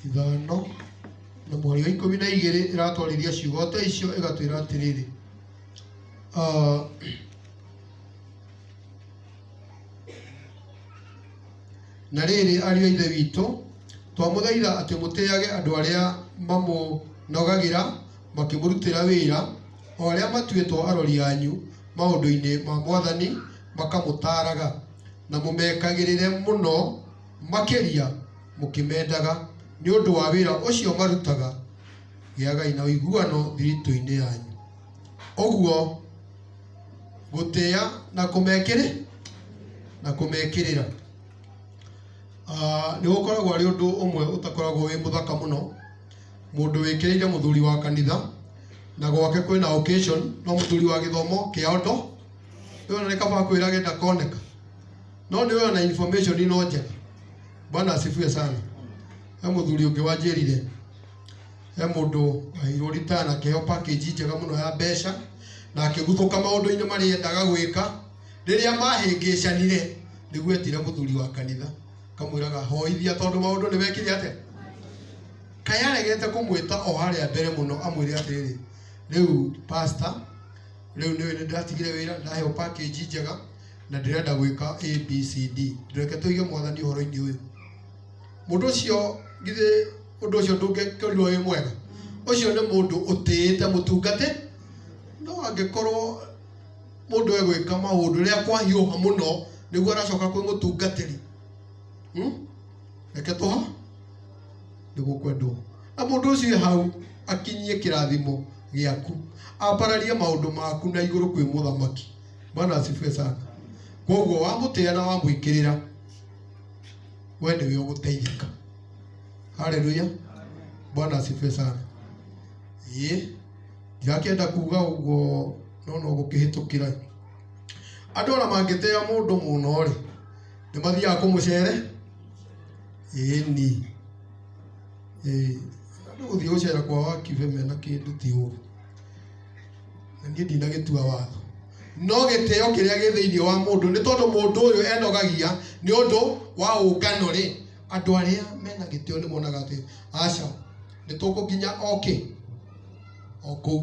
ithano na mũhari wa ikũmi na igĩrĩ ĩratwarithia ciugo ta icio ĩgatwĩra atĩrĩrĩ ah, na rĩrĩ ariũ a ithe witũ twamũthaitha atĩ mũtĩage andũ arĩa mamũnogagĩra makĩmũrutĩra wĩra o arĩa matuĩtwo arori anyu maũndũ-inĩ ma Mwathani makamũtaaraga, na mũmekagĩrĩre mũno makĩria mũkĩmendaga nĩ ũndũ wa wĩra ũcio marutaga, gĩagai na ũiguano thiritũ-inĩ yanyu. Ũguo gũtĩa na kũmekĩrĩ na kũmekĩrĩra nĩ gũkoragwo arĩ ũndũ ũmwe ũtakoragwo wĩ mũthaka mũno. Mũndũ wĩkĩrĩire mũthuri wa kanitha na gwake kwĩna occasion no mũthuri wa gĩthomo kĩa ondo nĩ wona nĩ kaba akwĩrage ndakoneka no nĩ wĩona information ino njega bwana asifiwe sana he mũthuri ũngĩ wanjĩrire he mũndũ waheirwo rita na kĩheo package njega mũno ya mbeca na akĩguthũka maũndũ-inĩ marĩa endaga gwĩka rĩrĩa mahĩngĩcanire nĩguo etire mũthuri wa kanitha Kamwĩraga hoithia tondũ maũndũ nĩ wekire atĩa? Kaĩ aregete kũmwĩta o harĩa mbere mũno amwĩre atĩrĩrĩ, rĩu pastor, rĩu nĩũĩ nĩ ndĩratigire wĩra, nĩ ndaheo package njega na ndĩrenda gwĩka ABCD. Reke tũige mwathani ũhoro-inĩ ũyũ. Mũndũ ũcio githĩ ũndũ ũcio ndũngĩkorirwo wĩ mwega? Ũcio nĩ mũndũ ũtĩĩte mũtungatĩ, no angĩkorwo... mũndũ egwĩka maũndũ rĩrĩa kwahiũha mũno nĩguo aracoka kwĩ mũtungatĩri hmm? reke tũha nĩguo kwendwo na mũndũ ũcio e hau akinyie kĩrathimo gĩaku ambararie maũndũ maku na igũrũ kwĩ mũthamaki bwana asifiwe sana koguo wamũtĩa na wamwĩkĩrĩra we nĩwe ũgũteithĩka haleluya bwana asifiwe sana ĩĩ Ndingakĩenda kuuga ũguo no no gũkĩhĩtũkĩra. Andũ ona mangĩtĩa mũndũ mũno-rĩ, nĩ mathiaga kũmũcere? Ĩĩni. Ĩĩ. Andũ gũthiĩ gũcera kwa Wakibe mena kĩndũ ti ũũru. Na niĩ ndinagĩtua watho. No gĩtĩo kĩrĩa gĩ thĩinĩ wa mũndũ nĩ tondũ mũndũ ũyũ enogagia nĩ ũndũ wa ũngano-rĩ, andũ arĩa mena gĩtĩo nĩ monaga atĩ aca, Nĩ tũkũ nginya o kĩ? O kũu.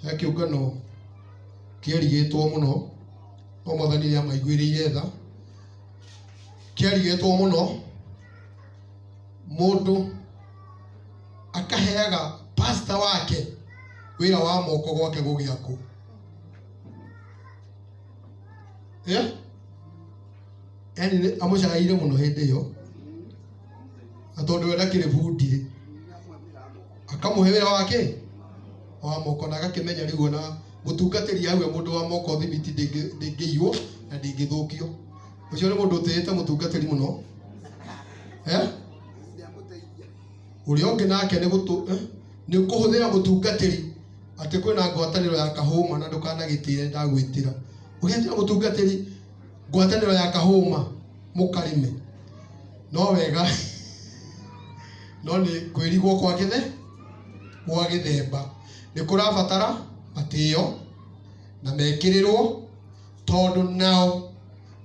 He kĩũngano kĩerigĩtwo mũno, no Mwathani nĩ amaiguĩrĩire tha. Kĩerigĩtwo mũno, mũndũ akaheaga pastor wake wĩra wa moko gwake gũgĩa kũ? Yeah? Yani amũcaĩire mũno hĩndĩ ĩyo. na tondũ we ndakĩrĩ bundi akamũhe wĩra wake wa moko na agakĩmenya rĩu ona mũtungatĩri hau e mũndũ wa moko thibiti ndĩngĩ- ndĩngĩiywo na ndĩngĩthũkio ũcio nĩ mũndũ ũtĩĩte mũtungatĩri mũno eh? ũrĩa ũngĩ nake nĩ gũtũ eh? nĩ kũhũthĩra mũtungatĩri atĩ kwĩna ngwatanĩro ya kahũma na ndũkanagĩtĩre ndagwĩtĩra ũgetĩra mũtungatĩri Ngwatanĩro ya kahũma mũkarĩme no wega no nĩ kwĩrigwo kwa gĩthe gwa gĩthemba. Nĩ kũrabatara matĩo na mekĩrĩrwo tondũ nao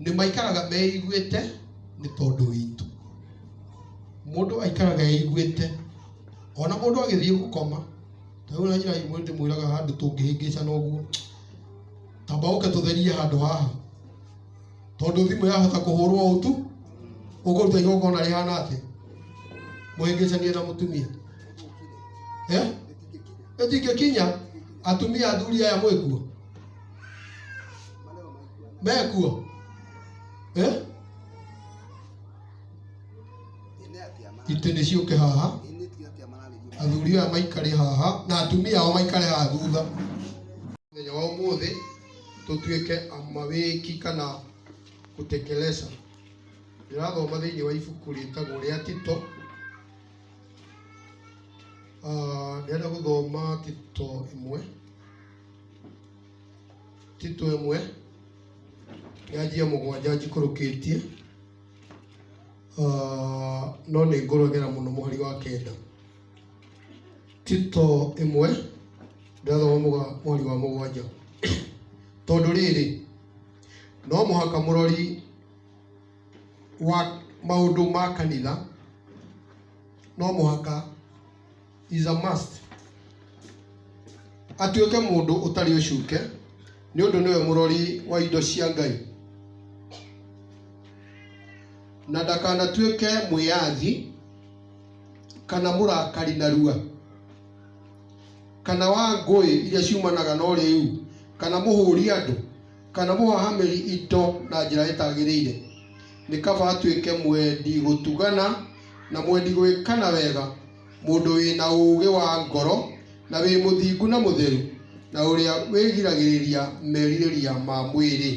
nĩ maikaraga meiguĩte nĩ tondũ witũ. Mũndũ aikaraga eiguĩte ona mũndũ agĩthiĩ gũkoma, ta rĩu ona nyina ndĩmwĩraga handũ tũngĩhĩngĩcana ũguo. tamba ũke tũtherie handũ haha tondũ thimũ yahota kũhũrwo ũũ tu ũkũruta igongona rĩhana atĩ mũhĩngĩcanie na mũtumia Eh? ĩtingĩkinya atumia athuri aya mwĩkuo mekuo Eh? itĩ nĩ ciũke haha athuri aya maikare haha na atumia ao maikare haha thutha mũthenya wa ũmũthĩ tũtuĩke amawĩki kana gũtekeleza ndĩrathoma thĩinĩ wa ibuku rĩtagwo rĩa tito Ah, ndĩrenda gũthoma tito ĩmwe tito ĩmwe yanjia mũgwanja njikũrũkĩtie Ah, no nĩ ngũragera mũno mũhari wa kenda Tito ĩmwe ndĩrathoma mweri wa mũgwanja tondũ rĩrĩ no mũhaka mũrori wa maũndũ ma kanitha no mũhaka is a must atuĩke mũndũ ũtarĩ ũcuke nĩ ũndũ nĩwe mũrori wa indo cia Ngai na ndakanatuĩke mwĩyathi kana mũrakari narua kana wa ngũĩ iria ciumanaga na ũrĩu kana mũhũri andũ kana mũhahamĩri indo na njĩra ĩtagĩrĩire nĩ kaba atuĩke mwendi gũtugana na mwendi gwĩkana wega mũndũ wĩna ũũgĩ wa ngoro na wĩ mũthingu na mũtheru na ũrĩa wĩgiragĩrĩria merirĩria ma mwĩrĩ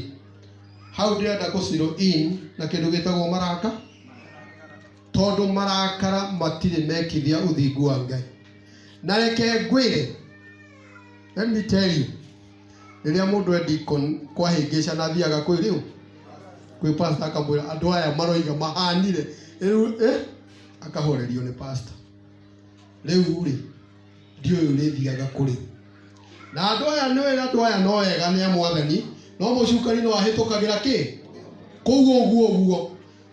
hau ndĩrenda kũ zero in na kĩndũ gĩtagwo maranga tondũ marakara matirĩ mekithia ũthingu wa ngai na reke ngwĩre let me tell you rĩrĩa mũndũ endi kũ- kwahĩngĩca na athiaga kwĩ rĩu kwĩ pasta akamwĩra andũ aya maroiga mahanire rĩu eh, akahorerio nĩ pasta rĩu rĩ ndiũĩ ũrĩthiaga kũrĩ na andũ aya nĩ wĩra andũ aya no ega nĩ amwathani no mũcukani no ahĩtũkagĩra kĩ kũu ũguo ũguo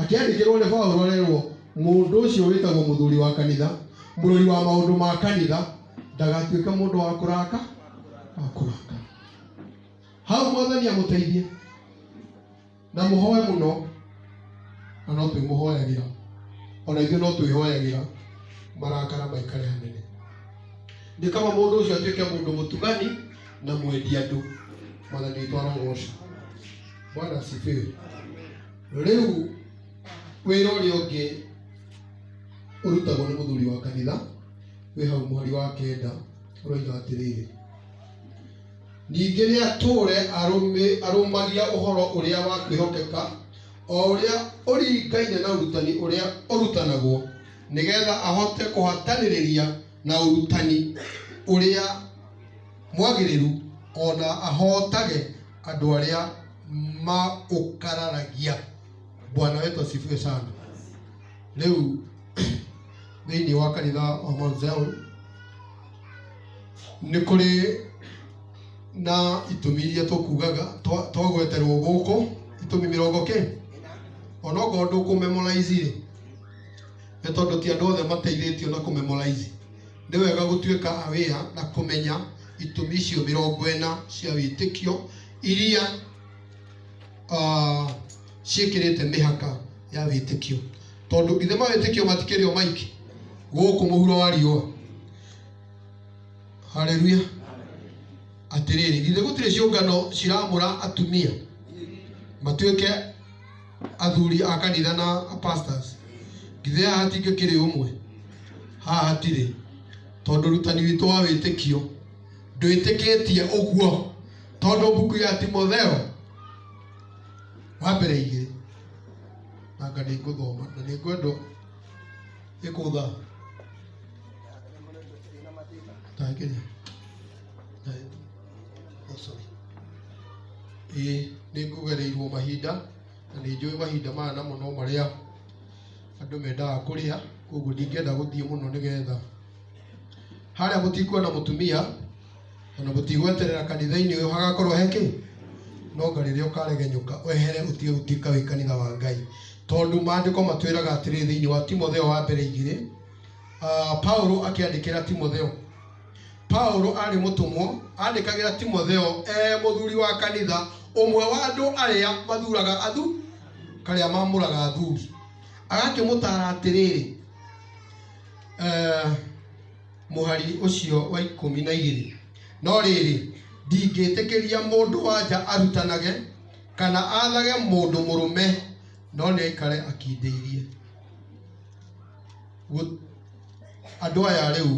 Akĩandĩkĩrũo nĩ Paulo arerũo, Mũndũ ũcio wĩtagwo mũthuri wa kanitha, mũrori wa maũndũ ma kanitha, ndagatuĩke mũndũ wa kũraka, wa kũraka. Hau Mwathani amũteithie na mũhoe mũno, na no twĩmũhoyagĩra, o na ithuĩ no twĩhoyagĩra marakara maikare hanene. Nĩ kaba mũndũ ũcio atuĩke mũndũ mũtugani na mwendi andũ. Mwathani witũ arogocwo. Bwana asifiwe. rĩu wĩra ũrĩa ũngĩ ũrutagwo nĩ mũthuri wa kanitha wĩ hau mweri wa kenda ũroiga atĩrĩrĩ ningĩ nĩ atũre arũmagia ũhoro ũrĩa wa kwĩhokeka o ũrĩa ũringaine na ũrutani ũrĩa ũrutanagwo nĩgetha ahote kũhatanĩrĩria na ũrutani ũrĩa mwagĩrĩru ona ahotage andũ arĩa maũkararagia bwana wetu asifiwe sana rĩu thĩinĩ wa kanitha wa Mount Zion nĩ kũrĩ na itũmi iria tũkugaga twa- twagweterwo gũkũ itũmi mĩrongo kĩ onokorwo ndũkũmemoraizi rĩ nĩ tondũ ti andũ othe mateithĩtio na kũmemoraizi Nĩ wega gũtuĩka aware na kũmenya itũmi icio mĩrongo ĩna cia wĩtĩkio iria uh, ciĩkĩrĩte mĩhaka ya wĩtĩkio tondũ ithe ma wĩtĩkio matikĩrĩ o maingĩ gũkũ mũhuro wa riũa haleluya atĩrĩrĩ githĩ gũtirĩ ciũngano ciramũra atumia matuĩke athuri a kanitha na pastors githĩ haha hatingĩkĩrĩ ũmwe haha hatirĩ tondũ rutani witũ wa wĩtĩkio ndwĩtĩkĩtie ũguo tondũ mbuku ya timotheo wa mbere igĩrĩ nanga nĩ ngũthoma na nĩ ngwendwo ĩkũtha tangĩrĩa Ĩĩ nĩ ngũgereirwo mahinda na nĩ njũĩ mahinda maya namo no marĩa andũ mendaga kũrĩa kwoguo ndingĩenda gũthiĩ mũno nĩ getha. Harĩa mũtikuona mũtumia ona mũtigweterera kanitha-inĩ ũyũ hagakorwo he kĩĩ? No anga rĩrĩa ũkaregenyũka wehere ũtige gũtuĩka wĩ kanitha wa Ngai. Tondũ maandĩko matwĩraga atĩrĩ thĩinĩ wa Timotheo wa mbere igĩrĩ, Paulo akĩandĩkĩra Timotheo. Paũlũ aarĩ mũtũmwo aandĩkagĩra Timotheo e mũthuri wa kanitha, ũmwe wa andũ arĩa mathuraga athu karĩa mamũraga athuri, agakĩmũtaara atĩrĩrĩ eh, mũhari ũcio wa ikũmi na igĩrĩ no rĩrĩ ndingĩtĩkĩria mũndũ wanja arutanage kana athage mũndũ mũrũme no nĩaikare akindĩirie Andũ aya rĩu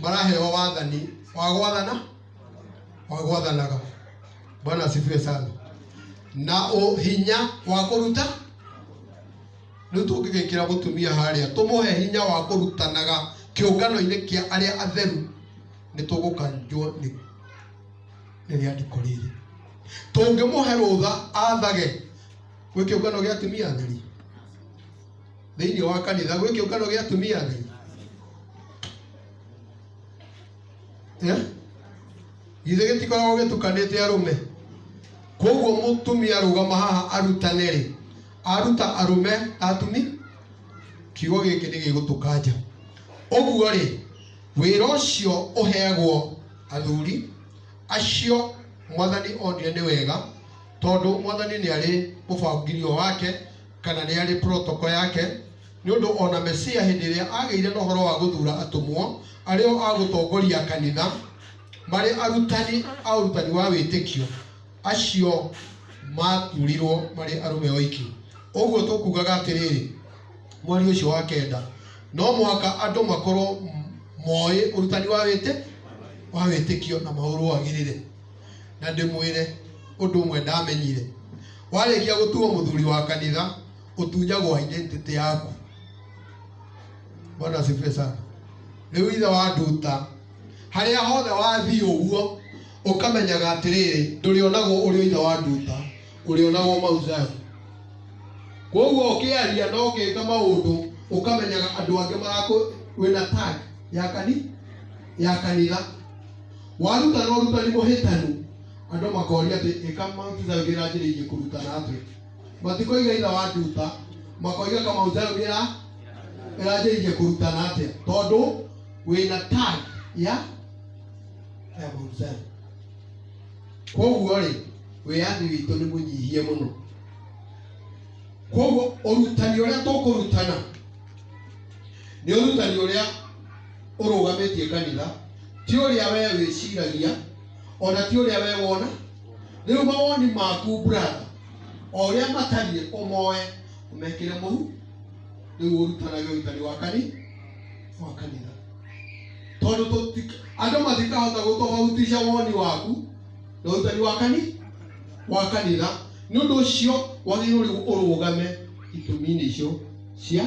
maraheo wathani wa gwathana wa gwathanaga. Bwana asifiwe sana. Na hinya wa kũruta rĩu tũngĩgĩkĩra mũtumia harĩa tũmũhe hinya wa kũrutanaga kĩũngano-inĩ kĩa arĩa atheru nĩ tũgũkanjwo nĩ rĩandĩko rĩrĩ. Tũngĩmũhe rũtha athage gwĩ kĩũngano gĩa atumia atheri? thĩinĩ wa kanitha gwĩ kĩũngano gĩa atumia a ngai Eh? githĩ gĩtikoragwo gĩtukanĩte arũme koguo mũtumia arũgama haha arutane rĩ aruta arũme atumi kiugo gĩkĩ nĩ gĩgũtũkanja ũguo rĩ wĩra ũcio ũheagwo athuri acio mwathani onire nĩ wega tondũ mwathani nĩ arĩ mũbangirio wake Kana nĩ arĩ protoko yake, nĩ ũndũ o na Mesia hĩndĩ ĩrĩa aagĩire na ũhoro wa gũthuura atũmwo, arĩ o a gũtongoria kanitha, marĩ arutani a ũrutani wa wĩtĩkio, acio maathuurirwo marĩ arũme oiki. Ũguo tũkuugaga atĩrĩrĩ, mweri ũcio wa kenda, no mũhaka andũ makorwo moĩ ũrutani wa wĩtĩkio na maũrũagĩrĩre. na ndĩmwĩre ũndũ ũmwe ndamenyire warĩkia gũtuo mũthuri wa kanitha ũtunyagwo identity yaku bwana asifiwe sana rĩu ithe wa nduta harĩa hothe wathiĩ ũguo ũkamenyaga atĩrĩrĩ ndũrĩonagwo ũrĩ ithe wa nduta ũrĩonagwo mauzayo koguo ũkĩaria na ũgĩka maũndũ ũkamenyaga andũ angĩ marakũ wĩna tag ya kani ya kanitha Warutana ũrutani mũhĩtanu, andũ makoria atĩ ĩka Mautithayo ndĩranjĩrĩirie kũrutana atĩa. Matikoiga ithe wa nduta, makoiga ka Mautithayo ndĩra ĩranjĩrĩirie kũrutana atĩa, tondũ wĩna tag ya ya Mautithayo. Koguo rĩ, wĩyathi witũ nĩ mũnyihie mũno. Koguo ũrutani ũrĩa tũkũrutana nĩ ũrutani ũrĩa ũrũgamĩtie kanitha ti ũrĩa wee wĩciragia ona ti ũrĩa wee wona rĩu mawoni maku brother o ũrĩa matariĩ ũmoe ũmekĩre mũhu rĩu ũrutanage ũrutani wa kani wa kanitha tondũ tũti- andũ matikahota gũtofautisha woni waku na ũrutani wa kani wa kanitha nĩ ũndũ ũcio wagĩrĩirwo rĩu ũrũgame itumi-inĩ icio cia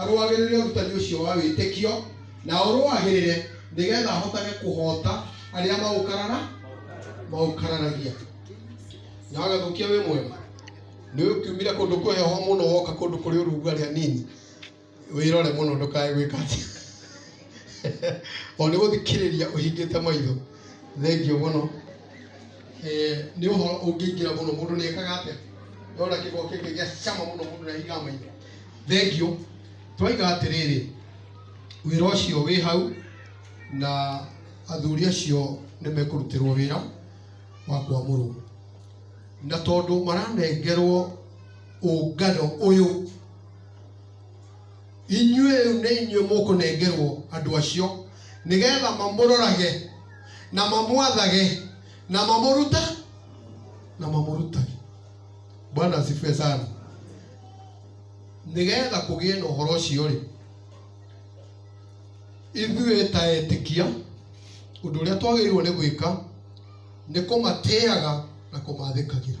arũagĩrĩre ũrutani ũcio wa wĩtĩkio na ũrũagĩrĩre nĩgetha ahotage kũhota arĩa maũkarara maũkararagia na agathũkia wĩ mwega nĩ ũkiumire kũndũ kwĩ heho mũno woka kũndũ kũrĩ ũrugarĩ hanini wĩrore mũno ndũkae gwĩka atĩ o nĩ gũthikĩrĩria ũhingĩte maitho thengio mũno Eh, nĩ ũhoro ũngĩingĩra mũno mũndũ nĩ ekaga atĩa nona kĩgwa kĩngĩ gĩa cama mũno mũndũ nĩ ahingaga maitho thengio twoiga atĩrĩrĩ wĩra ũcio wĩ hau na athuri acio nĩ mekũrutĩrwo wĩra wa kwamũrwo na tondũ maranengerwo ũngano ũyũ inyuĩ rĩu nĩ inyuĩ mũkũnengerwo andũ acio nĩgetha mamũrorage na mamwathage na mamũruta na mamũrutage bwana asifiwe sana nĩgetha kũgĩe na ũhoro ũcio rĩ ithuĩ ta etĩkia ũndũ ũrĩa twagĩrĩirwo nĩ gwĩka nĩ kũmatĩaga na kũmathĩkagĩra